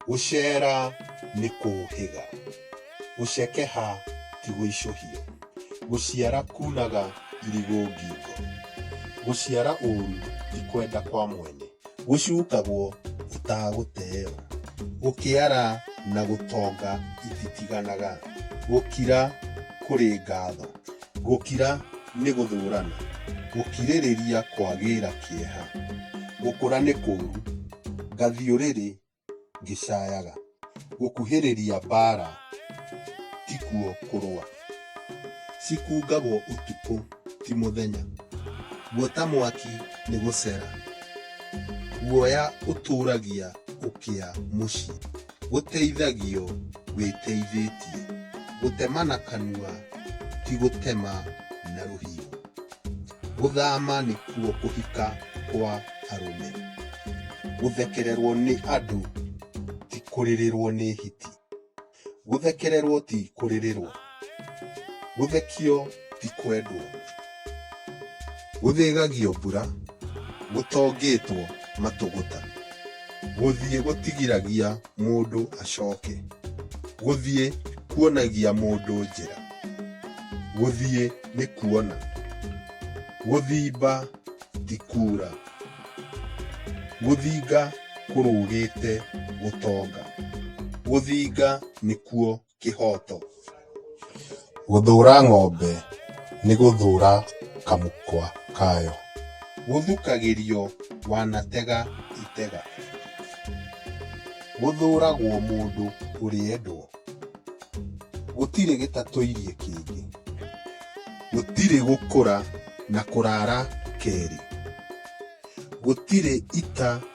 Gũceera nĩ kũũhĩga, gũcekeha ti gũicũhio, gũciara kunaga irigũ ngingo, gũciara ũũru ti kwenda kwa mwene, gũcukagwo ũtagũteeo, gũkĩara na gũtonga ititiganaga, gũkira kũrĩ ngatho. Gũkira nĩ gũthũrana. Gũkirĩrĩria kwagĩĩra kĩeha. Gũkũra nĩ kũũru. Ngathiũrĩrĩ ngĩcayaga. Gũkuhĩrĩria mbaara ti kuo kũrũa. Cikungagwo ũtukũ ti mũthenya. Guota mwaki nĩ gũcera. Guoya ũtũũragia ũkĩa mũciĩ. gũteithagio wĩteithĩtie. Gũtema na kanua ti gũtema na rũhiũ. Gũthama nĩkuo kũhika kwa arũme. Gũthekererwo nĩ andũ ti kũrĩrĩrwo nĩ hiti. Gũthekererwo ti kũrĩrĩrwo. Gũthekio ti kwendwo. Gũthĩgagio mbura gũtongĩtwo matũgũta. Gũthiĩ gũtigiragia mũndũ acoke. Gũthiĩ kuonagia mũndũ njĩra. Gũthiĩ nĩ kuona. Gũthimba ti kuura. Gũthinga kũrũgĩte gũtonga. Gũthinga nĩkuo kĩhoto. Gũthũũra ng'ombe nĩ gũthũũra kamũkwa kayo. Gũthukagĩrio wanatega itega. Gũthũũragwo mũndũ ũrĩendwo. Gũtirĩ gĩtatũirie kĩngĩ. Gũtirĩ gũkũra na kũraara kerĩ. Gũtirĩ ita.